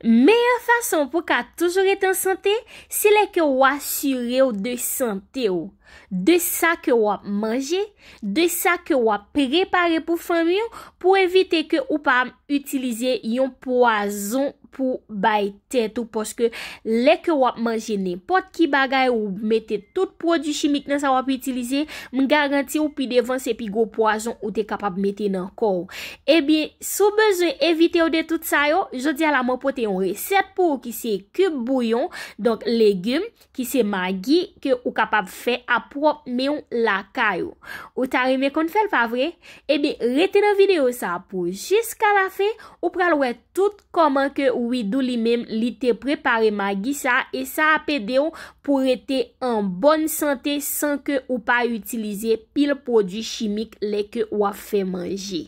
Meyè fason pou w ka toujou rete an sante, se lè ke ou asire w de sante w, de sa ke w ap manje, de sa ke w ap prepare pou fanmi w, pou evite ke ou pa itilize yon pwazon pou bay tèt ou, paske lè ke w ap manje nenpòt ki bagay, ou mete tout pwodui chimik nan sa w ap itilize, m garanti w pi devan se pi gwo pwazon ou te kapab mete nan kò w. Ebyen, si w bezwen evite yo de tout sa yo, jodi a la mwen pote yon resèt pou ou ki se kib bouyon, donk legim, ki se magi ke ou kapab fè a pwòp men w lakay ou. Ou ta renmen konn fè l pa vre? Ebyen, rete nan videyo sa pou jiska la fen, ou pral wè tout Kòman ke Widoo li menm li te prepare magi sa e sa ap ede w pou rete an bòn sante san ke ou pa itilize pil pwodwi chimik lè ke wap fè manje.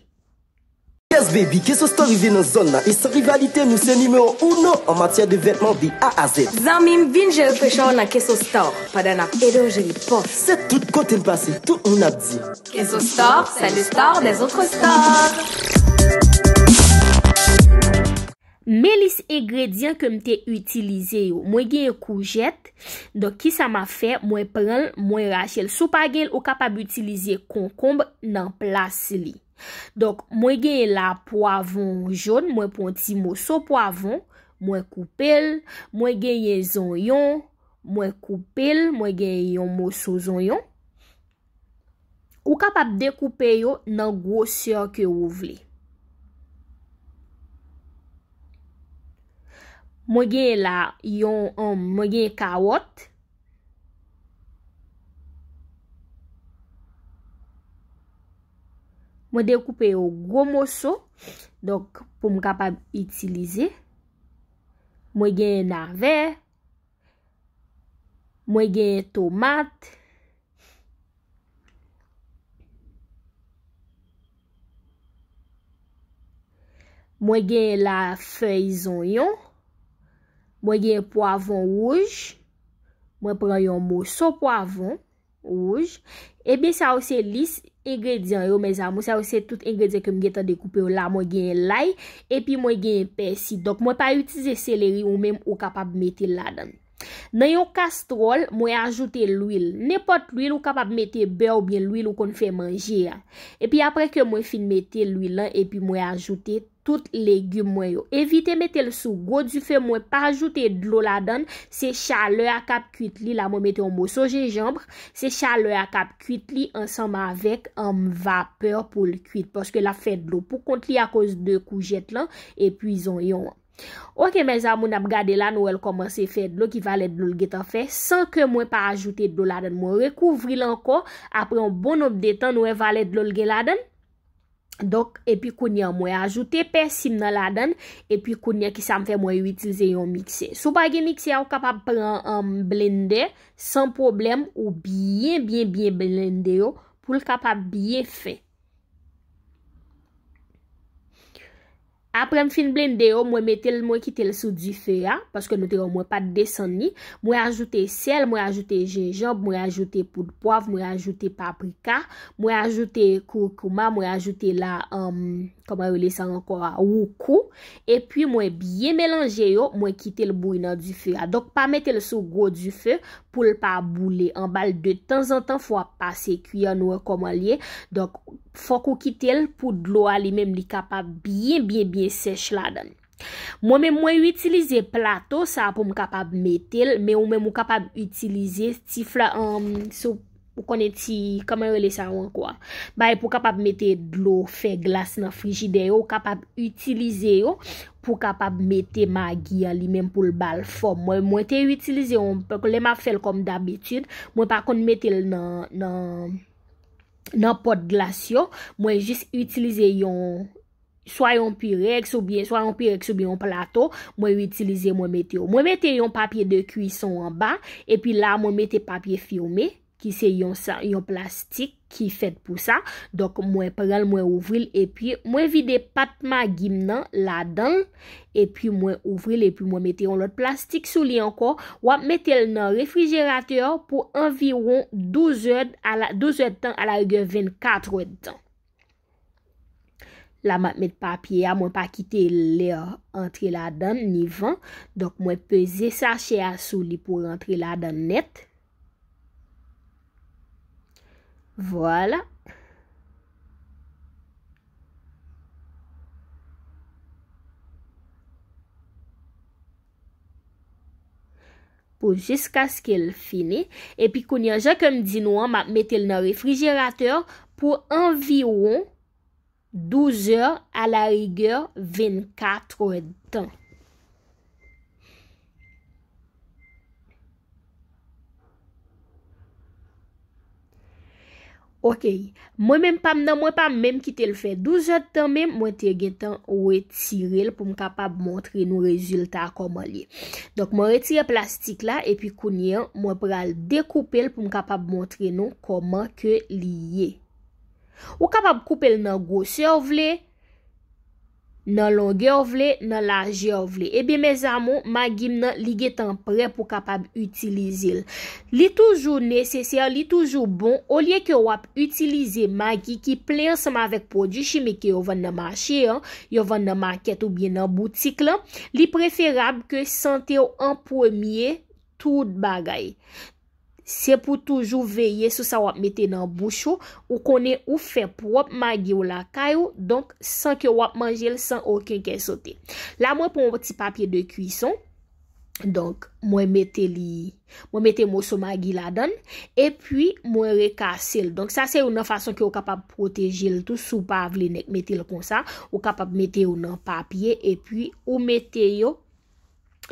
Yes baby, K-Sosto rive nan zòn nan e san rivalite nou se nimewo uno an matyè de vètman de A a Z. Zanmim vin jere frechè w nan K-Sosto pandan nap ede w jere pòs. Se tout kotem pase tout moun ap di. Kenzo Star, c'est le star des autres stars! Men lis engredyan ke m te itilize yo. Mwen genyen koujèt. Donk ki sa m ap fè? Mwen pran l, mwen rache l. Si w pa gen l, ou kapab itilize konkonb nan plas li. Donk, mwen genyen la pwavon jon. Mwen pran yon ti moso pwavon. Mwen koupe l. Mwen genyen zonyon. Mwen koupe l. Mwen genyen yon moso zonyon. Ou kapab dekoupe yo nan gwosè ke ou vle. Mwen genyen la yon, mwen genyen kawòt. Mwen dekoupe yo gwo moso, donk pou m kapab itilize. Mwen genyen navè, Mwen genyen tomat. Mwen genyen la fèy zonyon. Mwen genyen pwavon wouj. Mwen pran yon moso pwavon. Wouj. Ebyen sa yo se lis engredyan yo mes amour. Sa yo se tout engredyan ke m gentan dekoupe yo la. Mwen genyen lay. Epi mwen genyen pèsi. Donk mwen pa itilize seleri ou menm ou kapab mete ladan. Nan yon kastròl mwen ajoute lwil. Nenpòt lwil ou kapab mete bè ou byen lwil ou konn fè manje a. Epi apre ke mwen fin mete lwil lan epi mwen ajoute. Tout legume mwen yo. Evite metel sou gwo dife mwen pa ajoute dlo ladann, se chalè a kap kuit li la mwen mete yon moso jenjanbre, se chalè a kap kuit li ansanm avèk humm vapè poul kuit paske lap fè dlo pou kont li akoz de koujèt lan epi zonyon an. Ok mes amour nap gade la nou wèl kòmanse fè dlo ki valè dlol gentan fè san ke mwen pa ajoute dlo ladann mwen rekouvril ankò apre yon bon nonb de tan nou wè valè dlol gen ladann. Donk, epi kounye an mwen ajoute pèsi m nan ladann, epi kounye an ki sa m fè mwen itilize yon miksè. Si w pa gen miksè a ou kapab pran an blendè san pwoblèm ou byen byen byen blende yo pou l kapab byen fen. Aprè m fin blende yo, mwen mete l mwen kite l sou dife a, paske nou te wè mwen pat desann li, mwen ajoute sèl, mwen ajoute jenjanb, mwen ajoute poud pwav, mwen ajoute paprika, mwen ajoute kurkuma, mwen ajoute la kòman yo rele sa ankò a woukou, epi mwen byen melanje yo, mwen kite l bouyi nan dife a. Donk pa mete l sou gwo dife pou l pa boule anba l, de tanzantan fò w ap pase kwi an nou wè kòman l ye. Fòk ou kite l pou dlo a li menm li kapab byen byen byen sèch ladan. Mwen menm mwen itilize plato sa pou m kapab mete l, men ou menm ou kapab itilize ti fla anm sou ou konnen ti kòman yo rele sa yo ankò a. Bagay pou kapab mete dlo fè glas nan frijidè yo, ou kapab itilize yo pou kapab mete magi an li menm pou l ba l fòm. Mwen mwen te itilize yon lè m ap fè l kòm dabitid, mwen pa konn mete l nan nan. nan pot glas yo, mwen jis itilize yon, swa yon pirex ou byen, swa yon pirex ou byen yon plato, mwen itilize mwen mete yo. Mwen mete yon papye de kwison anba, epi la mwen mete papye filme, ki se yon plastik ki fèt pou sa, donk mwen pranl mwen ouvril epi mwen vide pat magi m nan ladanl, epi mwen ouvri l epi mwen mete yon lòt plastik sou li ankò, w ap mete l nan refrijeratè pou anviwon 12 èd a la 12 èdtan a la rigè 24 èdtan. La m ap met papye a, mwen pa kite lè antre ladan ni van, donk mwen peze sachè a sou li pou rantre ladan nèt. Vwala. Pou jiskaske l fini. Epi kounye an, jan ke m di nou an, m ap mete l nan refrijeratè pou anviwon. 12 zè, a la rigè, 24 è tan. Ok, mwen menm pa m nan mwen pa menm ki te l fè 12 zè tan menm mwen te gen tan retire l pou m kapab montre nou rezilta koman li. Donk mwen retire plastik la epi kounye an mwen pral dekoupe l pou m kapab montre nou koman ke li ye. Ou kapab koupe l nan gwosè ou vle, nan longè ou vle, nan lajè ou vle. Ebyen mezamou, magi m nan li gentan prè pou kapab itilize l. Li toujou nesesè, li toujou bon, olye ke w ap itilize magi ki plen ansanm avèk pwodui chimik ke yo vann nan mache an, yo vann nan makèt oubyen nan boutik lan, li preferab ke sante w an premye tout bagay. Se pou toujou veye sou sa wap mete nan bouch ou, ou konnen ou fè pwòp magi w lakay ou, donk san ke wap manje l san oken kè sote. La mwen pran yon ti papye de kwison, donk mwen mete li, mwen mete moso magi ladan l, e pwi mwen rekase l. Donk sa se yon nan fason ke ou kapab pwoteje l tou si w pa vle nèk mete l konsa, ou kapab mete yo nan papye e pwi ou mete yo.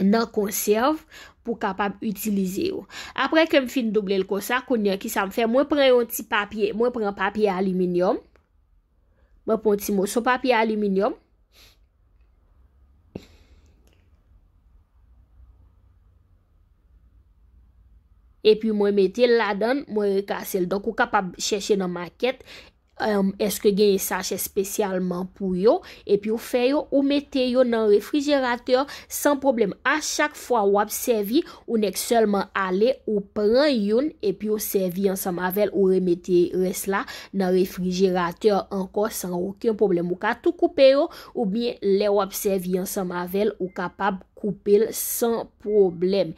nan konsèv pou kapab itilize yo. Aprè ke m fin double l konsa, kounye a ki sa m fè? Mwen pran yon ti papye, mwen pran papye aliminyòm, mwen pran yon ti moso papye aliminyòm, epi mwen mete l ladan, mwen rekase l. Donk ou kapab chèche nan makèt, Eske genyen sachè spesyalman pou yo epi ou fè yo ou mete yo nan refrijeratè san pwoblèm a chak fwa wap sèvi ou nèk sèlman ale ou pran youn epi ou sèvi ansanm avèl ou remete rès la nan refrijeratè ankò san oken pwoblèm ou ka tou koupe yo oubyen lè wap sèvi ansanm avèl ou kapab koupel san pwoblèm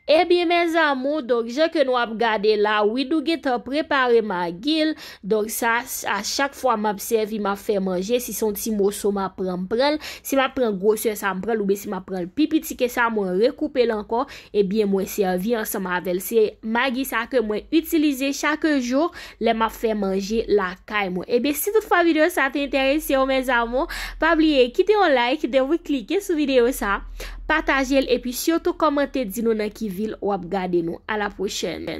ebyen mes amour donk jan ke nou ap gade la Widoo gentan prepare magil donk sa a chak fwa map sèvi map fè manje si son ti moso map pran m pranl si map pran gwosè sa m pranl oubyen si map pranl pi piti ke sa mwen rekoupel ankò ebyen mwen sèvi ansanm avèl se magi sa ke mwen itilize chak jou. lè map fè manje lakay mwen ebyen si tout fwa video sa te enteresew mes amour pa bliye kite yon like depi klike sou video sa patajel epi sitou komante di nou nan ki vil wap gade nou a la pwochèn.